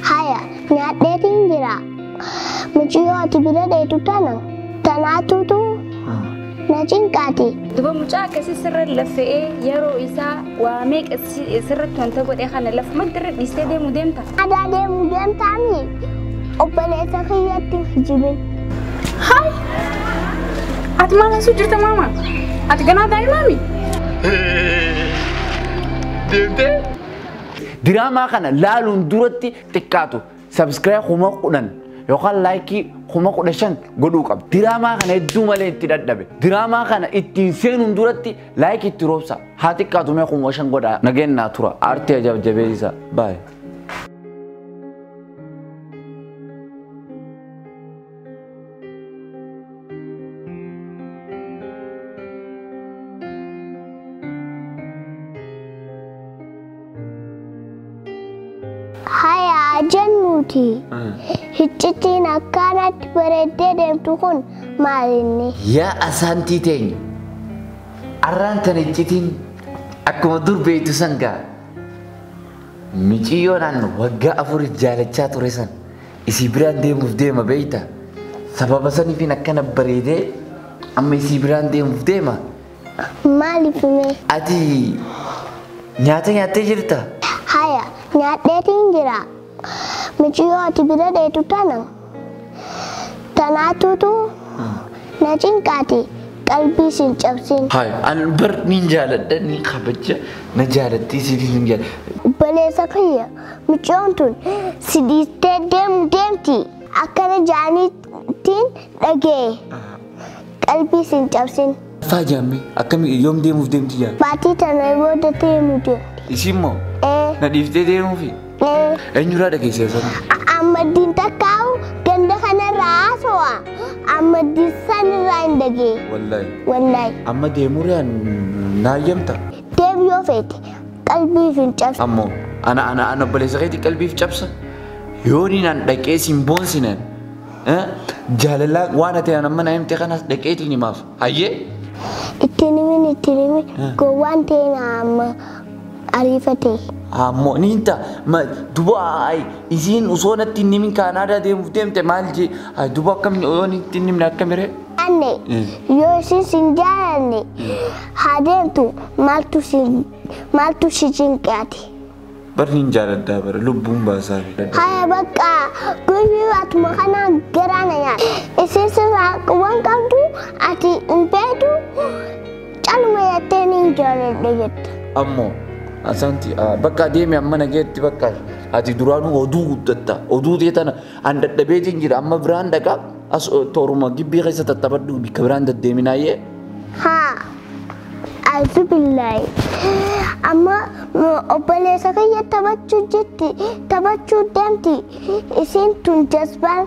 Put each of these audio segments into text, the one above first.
Haya, nyaadheetiin jira. Muciyyoo ati bira dheetu tana tanaatuutu na cinqaati. Duba mucaa akkasii sirra lafe'ee yeroo isaa waa meeqa si- sirratti wanta godhe kana lafumatti irra dhiistee deemu deemta. Adaa deemu deemtaami obboleessa kiyyatti hin kijibin. Haay! Ati maal haasuu jirta maama? Ati ganaa daa'imaami? Deemtee? Diraamaa kana laaluun duratti xiqqaatu sabskiraayib kuma kudhan yookaan laayikii kuma kudha shan godhuu qaba. Diraamaa kana hedduu malee itti dadhabe. Diraamaa kana ittiin seenuun duratti laayikii itti roobsa. Haa xiqqaatu mee kuma shan godhaa. Nageen naa tura. Aartii ajaa'ib jabeessa. Baay'ee. Hayaa jennuuti. Hiccitiin akkaanatti bareeddee deemtu kun maalinni? Yaa asaantii teenya arraan tan iccitiin akkuma dur beektu san gaa miciyyoonaan waggaa afuriif jaalachaa ture san Isii biraan deemuuf deema beeyta. Sababa sanifiin akkana bareedee amma isii biraan deemuuf deema. Maaliif mee? Ati nyaata nyaattee jirta? Haya, nyaadheetiin jira. Miciyoo ati bira dheetu tana. Tanaatuutu na cinqaati qalbii sin cabsin. Haya, an bar niin jaaladha niin kabaja na jaalattii siifis hin jaaladha. Obboleessa kiyya Mucyoon tun si dhiistee deemu deemti akkana ja'aniitiin dhagee qalbii sin cabsin. Faa jaamme akkami yoom deemuuf deemti jaa. Baatii tana booda deemu deemti. Isiin moo Ee, na dhiiftee deemuufi ee. eenyurraa dhageessee sana. Ammaddiin takkaa'u ganda kanarraa haasawa. Ammaddiin sanirraa hin dhagee. Wallaahi. Wallaahi. Amma deemuu riyaan naayyamta. Deev yoo feete qalbiif hin cabsu. Ammo ana ana ana obboleessa keetii qalbiif cabsa. Yooniin an dhaqee siin boonsinan. eh, Jaalalaa waan ati an amma na himte kanas dhaqeetiin himaaf. Hayyee? Ittiin himin ittiin himin gowwaan ta'e na amma ariifatee. Ammoo ni hinta ma duba ay isiin usoo natti hin himin kaanaadaa deemuuf deemte maal jee ay duba akkamni yoo nitti hin himne akkamire. Anne yoo isin sin jaalanne Haa deemtu maaltu si cinqe ati. Bar nin jaaladhaa bar lubbuun baasaafi. Haya baqqa guyyuu atuma kana garaa na nyaata. Isii sirraa quban qabdu ati hin feetu caluma jettee nin jaaladha jetta. Ammoo. Asaanti bakka deemi amma nageetti bakka ati duraanuu oduu guddatta oduu tee tana an dadhabeetiin jira amma biraan dhaqa. As tooruma gibbii keessa tattaphadhu bikka biraan daddeeminaayyee. Haa. Azubillahi. Amma obboleessa kiyya taphachuu jirti taphachuu deemti isiin tun jazbaan.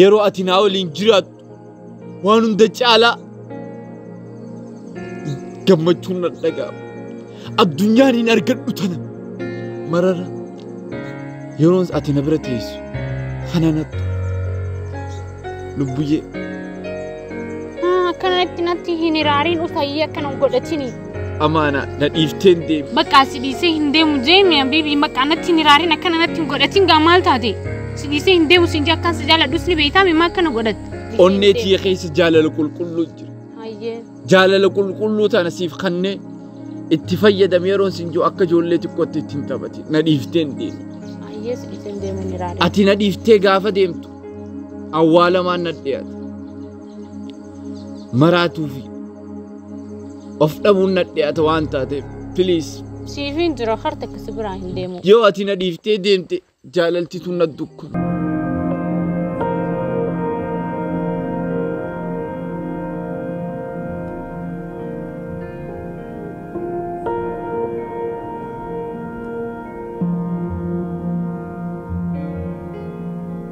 Yeroo ati naa waliin jiraattu waan hunda caalaa gammachuun na dhaga'ama. Addunyaan hin argadhu tana marara yeroo ati na bira teessu kana nattu lubbuyyee. Akkanatti natti hin hiraariin utayyee akkana hin godhatini. Amaana na dhiifteen deemi. Bakka si dhiisee hin deemu jeemi habiibi bakka anatti hin hiraarin akkana natti hin godhatin gaa maal taate si dhiisee hin deemu siin jee akkaan si jaaladhus ni beektaa mimma akkana godhatte. Onnee tiyya keessa jaalala qulqulluu jira. Hayyee. Jaalala qulqulluu tana siif kannee itti fayyadam yeroon siin jiru akka ijoollee xiqqootti ittiin taphati. Na dhiifteen deemi. Hayyee si dhiisee hin deemu hin hiraarin. Ati na dhiiftee gaafa deemtu awwaalamaan na dhiyaate. maraatuu fi of dhabuun nadhi'ata waan taateef piliis Siifin jira harta akkasi biraa hin deemu. yoo ati na dhiiftee deemte jaalaltitu na dukku.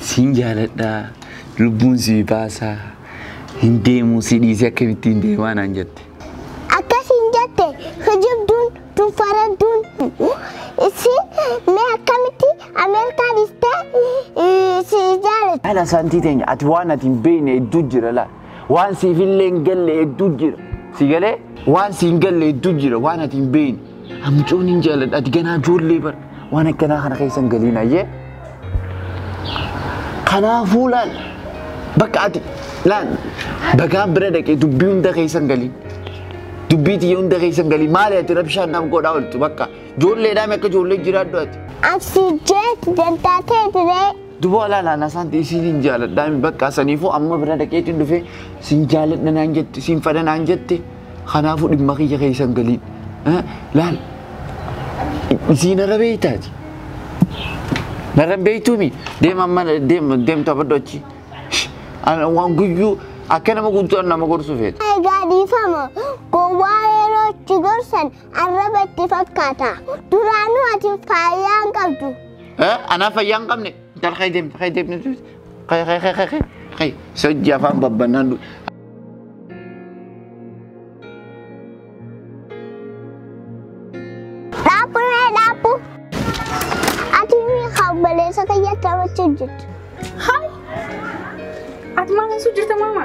Siin jaaladha lubbuun si baasa hin deemu si dhiisee akkamittiin deemaa naan jette. Akkasiin jette kijibduun tun faradduun. Isin mee akkamitti Ameerikaa dhistee si jaalatti? Ala santii teenya ati waan ati hin beekne hedduu jira laa. Waan siif illee hin galle hedduu jira. Si galee? Waan si hin galle hedduu jira waan ati hin beeyne. Amcoon hin jaaladha ati ganaa ijoollee bara. Waan akkanaa kana keessa hin galiin ayyee. Kanaafuu laal bakka ati laal bagaa bira dhaqee dubbii hunda keessa hin galiin. Dubbii tiyya hunda keessa hin galiin maali ati rabshaan naaf godhaa ooltu bakka ijoolleedhaan akka ijoollee jiraadhu ati. Absii jeet dantaa ta'e diree. Duboo alaa laala asaanti isiin hin jaaladhaa hin bakka saniifuu amma bira dhaqeetiin dhufee siin jaaladha naan jette siin fadha naan jette kanaafuu dhimma kiyya keessan galiin Eh, laal isiin irra beeytaati narra hin beeytuumi deema amma deema deemtu abaddo achi Shh, ana waan guyyuu akka nama guutuu nama gorsu feeta. Egaa dhiifama gowwaa yeroo itti gorsan Arraba itti fakkaata. Duraanuu ati faayaa hin qabdu. Anaa fayyaa hin qabne. Intal kee deemte kee deemte. Kee kee kee kee kee. Kee sojji afaan babbannaan. Dhaabbu mee dhaabbu. Ati mee kaabaleessa kiyya taphachuu jirtu. Ati maal osoo jirta maama?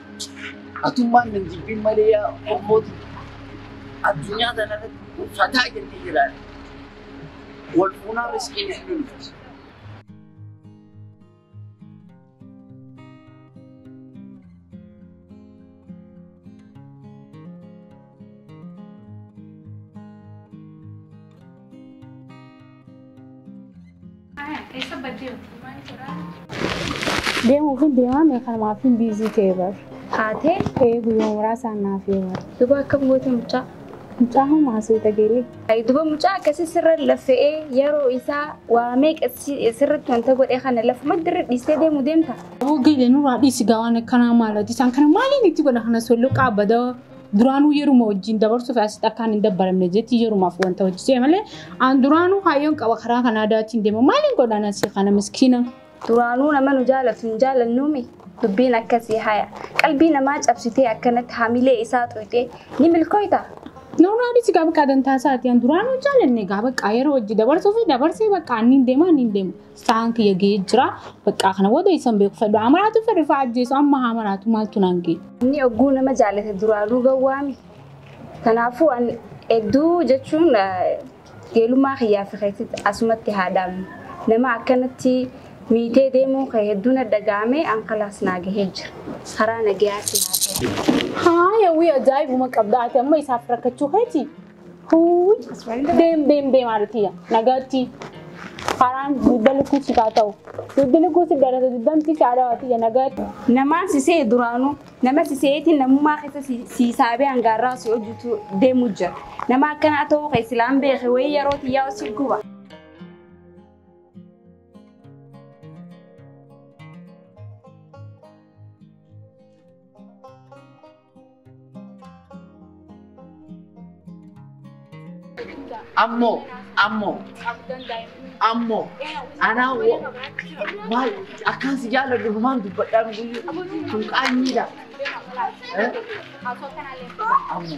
Atummaan nan jibbin malee yaa Oromooti addunyaa kana irratti fataa jennee jiraanne. Wal fuunaa riskii hin dhufti. Deemuuf hin deemaa meeqan maaf hin biizii ta'e bar. Haatee Ee guyyaa muraasaan naaf yoo bar. duba akkam goote mucaa. Mucaa homaa suuta geelee. Ayi duba mucaa akkasii sirra laffe'ee yeroo isaa waa meeqa si- sirratti wanta godhee kana lafuma dirri dhiistee deemu deemta. Aboo geelee nurraa dhiisi gaa waan akkanaa maalati isaan kana maaliin itti godha kanas walloo qaabada duraanuu yeruma wajjin dabarsuuf asitti akkaan hin dabbaramne jetti yerumaaf wanta hojjete malee aan duraanuu kaayyoon qaba karaa kan aadaatiin deema maaliin godhaan asii kana miskiina. Duraanuu nama nu jaalatu hin jaalannuumi dubbiin akkasii haya qalbii namaa cabsitee akkanatti hamilee isaa xuyxee ni milkooyta. Noonaa dhisi gaa bakka dantaa isaati aan duraanuu jaalanne gaa bakka yeroo wajji dabarsuu fi dabarsee bakka anniin deema anniin deema. sa'aan kiyya ga'ee jira. Baqqaa kana booda isan beeku fedhu. Haa maraatu fedhu fa'aa ajjeesu amma haa maraatu maaltu naan ga'e. Inni ogguu nama jaalate duraanuu gawwaami. Kanaafuu an hedduu jechuun geelummaa kiyyaa fi keetti asumatti haa dhaabnu. Nama akkanatti miitee deemuun kee hedduu na dhaga'ame an kalaas naa gahee jira. Karaa nagayaa si haa ta'u. Haa yawwii ajaa'ibuma qabda ati amma isaaf rakkachuu keeti. Huuy! Deem deem deem aartiya. Nagaatti. Haraan dugda lukkuu si kaa ta'u. Dugdi lukkuu si dhalate dugdamti si adawatiya nagaatti. Namaan si se'e duraanuu nama si se'eetiin namummaa keessa si si saabee hangaarraa si hojjetu deemu jira. Nama akkanaa ta'uu kee silaan beeke wayii yeroo tiyyaa si guba. Ammo, ammo, ammo, anaa wa- maal akkaan si jaalladhu dhumaan dubbadhaa guyyuu kun qaanyiidha. Eh? Ammo.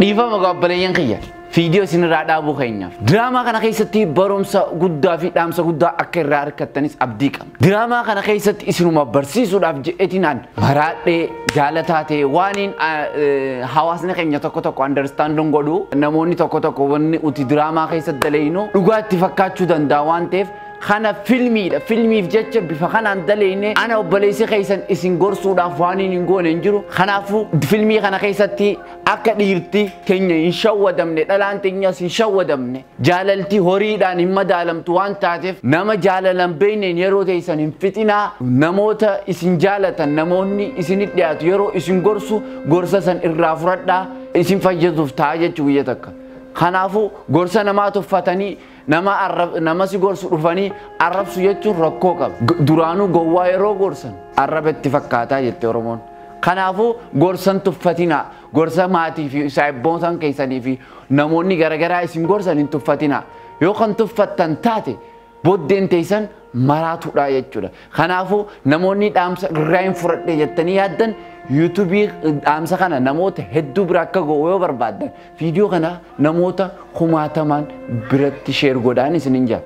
Dhiifama gaabbaleyyan kiyya viidiyoo isinirraa dhaabuu keenyaaf. Diraamaa kana keessatti barumsa guddaa fi dhaamsa guddaa akka irraa argattanis abdii qabna. Diraamaa kana keessatti isinuma barsiisuudhaaf jedhetinaan maraadhee jaalataa ta'e waaniin hawaasni keenya tokko tokko andarstaanduun godhu namoonni tokko tokko wanni uti diraamaa keessatti daleynu dhugaa itti fakkaachuu danda'a waan ta'eef Kana filmiidha. Filmiif jecha bifa kanaan daleeyne ana obboleessi keessan isin gorsuudhaaf waan hin goone hin jiru. Kanaafuu filmii kana keessatti akka dhiirti teenya hin shawwadamne dhalaan teenyas hin shawwadamne jaalalti horiidhaan hin madaalamtu waan taateef nama jaalalan beekneen yeroo teessan hin fixinaa namoota isin jaalatan namoonni isinitti dhiyaatu yeroo isin gorsu gorsa san irraa fudhadhaa isin fayyaduuf ta'a jechuu guyya takka. Kanaafuu gorsa namaa tuffatanii Nama arrab nama si gorsu dhufanii arrabsu jechuun rakkoo qaba. G- Duraanuu gowwaa yeroo gorsan arraba itti fakkaataa jette Oromoon. Kanaafuu gorsan tuffatinaa, gorsa maatii fi saayibboonsan keessanii fi namoonni garagaraa isin gorsan hin tuffatinaa. Yoo kan tuffattan taate boddeen teessan maraatuudhaa jechuudha. Kanaafuu namoonni dhaamsa irraa hin fudhadhe jettanii yaaddan yuutuubii dhaamsa kana namoota hedduu bira akka ga'u yoo barbaaddan Video kana namoota kumaatamaan biratti share godhaan isinin ja.